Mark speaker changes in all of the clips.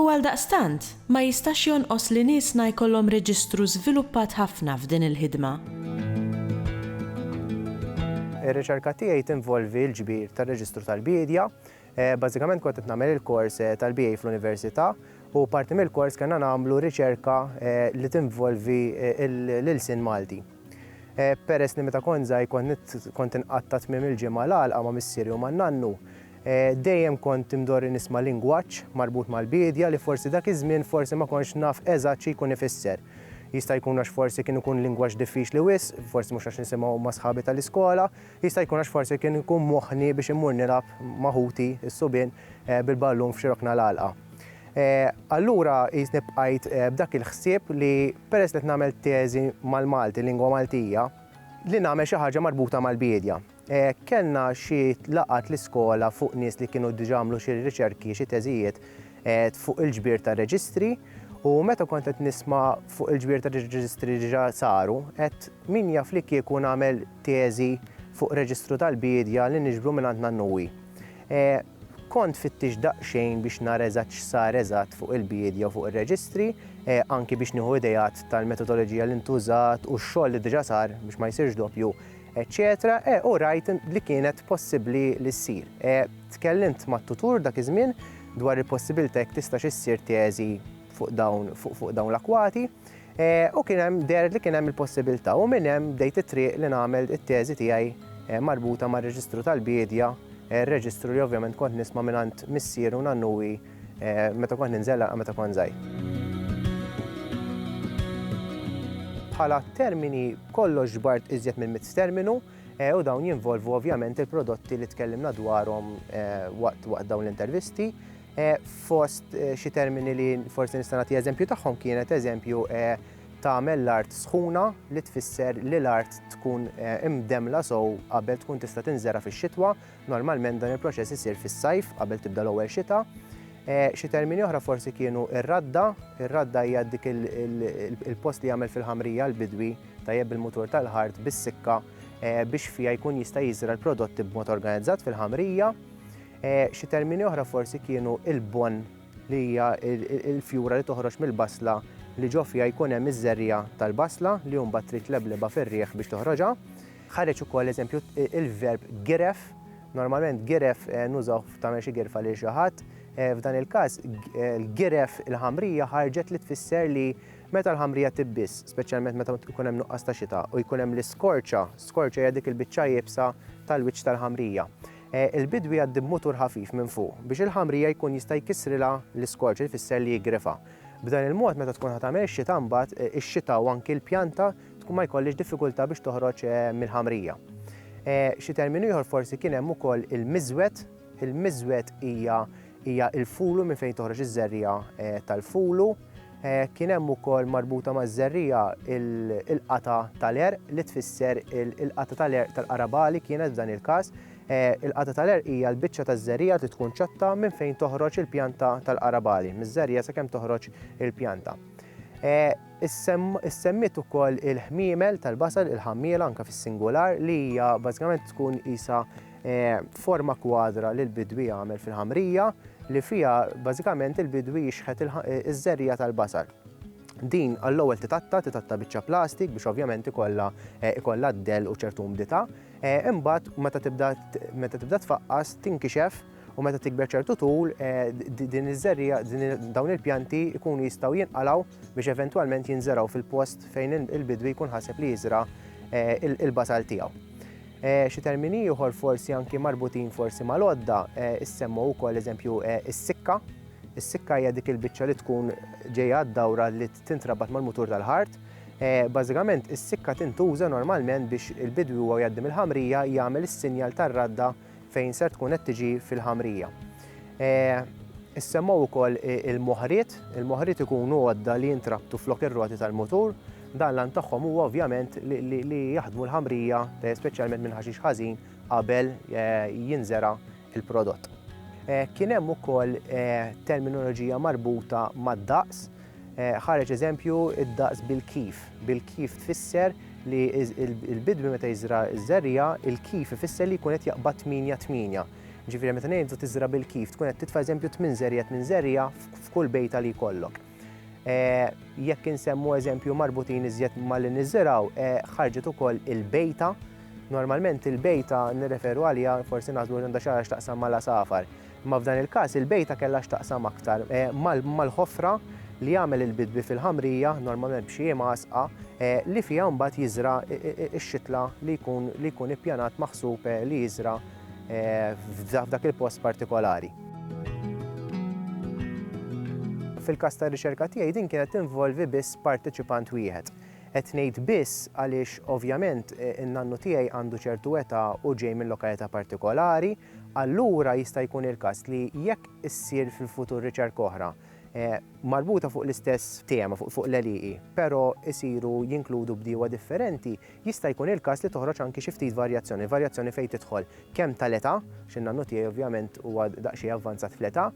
Speaker 1: U għaldaqstant, ma jistax jonqos li niesna jkollhom reġistru żviluppat ħafna f'din il-ħidma. Ir-riċerka tiegħi tinvolvi l-ġbir tar-reġistru tal-biedja. Bażikament kont qed nagħmel il-kors eh, tal-BA fl-università u parti mill-kors kellna nagħmlu riċerka eh, li tinvolvi eh, l-ilsien Malti. Peress li meta kont żgħir kont inqatt' ta' tmiem il-ġimgħa l-għalqa ma' missieri u ma' nannu, dejjem kont imdorri nisma' lingwaġġ marbut mal-biedja li forsi dak iż-żmien forsi ma kontx naf eżatt xi jkun ifisser. Jista' jkun għax forsi kien ikun lingwaġġ diffiċli wisq, forsi mhux għax nisimgħu ma' sħabi tal-iskola, Jista' jkun għax forsi kien ikun moħħni biex immur nilgħab ma' ħuti, is-subien, bil-ballun f'xi rokna l-għalqa. Allura qisni bqajt b'dak il-ħsieb li peress li qed nagħmel teżi mal-Malti, lingwa Maltija, li nagħmel xi ħaġa marbuta mal-biedja. Kellna xi laqgħat l-iskola fuq nies li kienu diġà għamlu xi riċerki, xi teżijiet fuq il-ġbir ta' reġistri u meta kont qed nisma' fuq il-ġbir ta' reġistri li diġà saru, għedt min jaf li kieku nagħmel teżi fuq reġistru tal-biedja li niġbru mingħand Nannuwi. Kont fittix daqsxejn biex nara eżatt x'sar eżatt fuq il-biedja u fuq ir-reġistri, anki biex nieħu ideat tal-metodoloġija li ntużat u x-xogħol li diġà sar biex ma jsirx doppju, eċċetera u rajt li kienet possibbli li ssir. Tkellimt mat-tutur dak iż-żmien dwar il-possibilità jekk tistax issir teżi fuq dawn l-akwati. U kien hemm dehret li kien hemm il-possibilità u minn hemm bdejt it-triq li nagħmel it-teżi tiegħi marbuta mar-reġistru tal-biedja, reġistru li ovvjament kont nisma' mingħand missieri u nannuwi meta kont ninżel anqal meta kont żgħir. Bħala termini b'kollox ġbart iżjed minn mitt terminu u dawn jinvolvu ovvjament il-prodotti li tkellimna dwarhom waqt dawn l-intervisti. Fost xi termini li forsi nista' nagħti eżempju tagħhom kienet eżempju tagħmel l-art sħuna li tfisser li l-art tkun imdemmla sew qabel tkun tista' tinżera' fix-xitwa, normalment dan il-proċess isir fis-sajf qabel tibda l-ewwel xita. Xi termini oħra forsi kienu r-radda, ir-radda hija dik il-post li jagħmel fil-ħamrija l-bidwi tajjeb bil-mutur tal-ħart bis-sikka biex fiha jkun jista' jiżra' l-prodotti b'mod organizzat fil-ħamrija. Xi termini oħra forsi kienu il-bonn li hija l-fjura li toħroġ mill-basla li ġo fiha jkun hemm iż-żerriegħa tal-basla li hu mbagħad trid tleblebha fir-riħ biex toħroġha. Ħareġ ukoll eżempju il-verb giref, normalment giref nużawh f'tagħmel xi girfa lil xi ħadd, f'dan il-każ giref il-ħamrija ħarġet li tfisser li meta l-ħamrija tibbiż, speċjalment meta jkun hemm nuqqas ta' xita u jkun hemm l-iskorċa, skorċa hija dik il-biċċa iebsa tal-wiċċ tal-ħamrija. Il-bidwi jgħaddi b'mutur ħafif minn fuq biex il-ħamrija jkun jista' jkissrilha l-iskorġ li jfisser li jiggrifha. B'dan il-mod meta tkun ħa tagħmel ix-xita mbagħad ix-xita u anki l-pjanta tkun ma jkollhiex diffikultà biex toħroġ mill-ħamrija. Xi terminu ieħor forsi kien hemm ukoll il-miżwed. Il-miżwed hija hija l-fulu minn fejn toħroġ iż-żerriegħa tal-fulu. Kien hemm ukoll marbuta maż-żerriegħa il-qata' tal-għerq li tfisser il-qata' tal-għerq tal-qaraba li kienet f'dan il-każ. Il-qata' tal-għerq hija l-biċċa taż-żerriegħa li tkun ċotta minn fejn toħroġ il-pjanta tal-qaraba li miż-żerriegħa sakemm toħroġ il-pjanta. Issemmiet ukoll il-ħmiemel tal-basal, il-ħammiela anke fis-singular li hija bażikament tkun qisha Forma kwadra li l-bidwi jagħmel fil-ħamrija li fiha bażikament il-bidwi jixħet iż-żerriegħa tal-basal. Din għall-ewwel titatta, titatta biċċa plastik biex ovvjament ikollha ikollha d-dell u ċertu umdità. Imbagħad meta tibda meta tibda tfaqqas tinkixef u meta tikber ċertu tul din iż-żerriegħa dawn il-pjanti jkunu jistgħu jinqalgħu biex eventwalment jinżergħu fil-post fejn il-bidwi jkun ħaseb li jiżra' il-basal tiegħu. Xi termini ieħor forsi anki marbutin forsi mal-għodda, issemmu wkoll eżempju is-sikka. Is-sikka hija dik il-biċċa li tkun ġejja għad-dawra li tintrabat mal-mutur tal-ħart. Bażikament is-sikka tintuża normalment biex il-bidwi huwa jgħaddi mill-ħamrija jagħmel is-sinjal tar-radda fejn ser tkun qed tiġi fil-ħamrija. Issemmaw ukoll il-moħriet, il-moħriet ikunu għodda li jintrabtu flok ir-roti tal-mutur, dan l tagħhom huwa ovvjament li jaħdmu l-ħamrija, speċjalment minn ħaxix ħażin qabel jinżera il-prodott. Kien hemm ukoll terminoloġija marbuta mad-daqs, Ħareġ eżempju d-daqs bil-kif. Bil-kif tfisser li l-bidwi meta jiżra' ż-żerriegħa, il-kif ifisser li jkun qed jaqbad tmienja tmienja. Ġifieri meta ngħidu tiżra' bil-kif tkun qed titfa' eżempju tmien żerriegħa tmien żerriegħa f'kull bejta li jkollok. Jekk insemmu eżempju marbutin iżjed ma' li niżirgħu, ħarġet ukoll il-bejta. Normalment il-bejta nirreferu għaliha, forsi naħsbu li għandha xi ħaġa x'taqsam mal-għasafar. Imma f'dan il-każ il-bejta kellha x'taqsam aktar mal-ħofra li jagħmel il-bidwi fil-ħamrija, normalment b'xi imgħasqa, li fiha mbagħad jiżra' x-xitla li jkun li jkun ippjanat maħsub li jiżra' f'dak il-post partikolari. Fil-każ tar-riċerka tiegħi din kienet tinvolvi biss parteċipant wieħed. Qed ngħid biss għaliex ovvjament in-nannu tiegħi għandu ċertu età u ġej minn lokalità partikolari, allura jista' jkun il-każ li jekk issir fil-futur riċerka oħra marbuta fuq l-istess tema, fuq l-għelieqi, però jsiru jinkludu bdiewa differenti, jista' jkun il-każ li toħroġ anki xi ftit varjazzjoni. Varjazzjoni fejn tidħol kemm tal-età, għax in-nannu tiegħi ovvjament huwa daqsxejn avvanzat fl-età,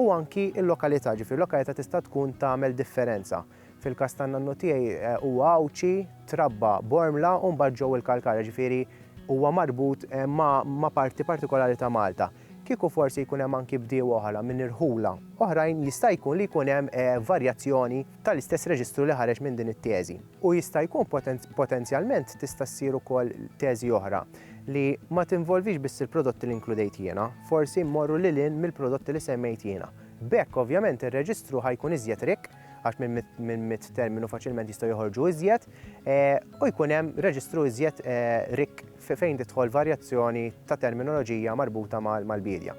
Speaker 1: u anki l-lokalità, ġifieri l-lokalità tista' tkun tagħmel differenza. Fil-każ tan-nannu tiegħi huwa Għawdxi, trabba Bormla u mbagħad ġew il-Kalkara, ġifieri huwa marbut ma' parti partikolari ta' Malta. Kieku forsi jkun hemm anki bdiewa oħra minn irħula oħrajn jista' jkun li jkun hemm varjazzjoni tal-istess reġistru li ħareġ minn din it-teżi. U jista' jkun potenzjalment tista' ssir ukoll teżi oħra li ma tinvolvix biss il-prodotti li nkludejt jiena, forsi mmorru lil hinn mill-prodotti li semmejt jiena. B'hekk ovvjament ir-reġistru ħa jkun iżjed rikk. għax minn mit terminu faċilment jistgħu joħorġu iżjed, eh, u jkun hemm reġistru iżjed eh, rik fejn tidħol varjazzjoni ta' terminoloġija marbuta mal-bidja.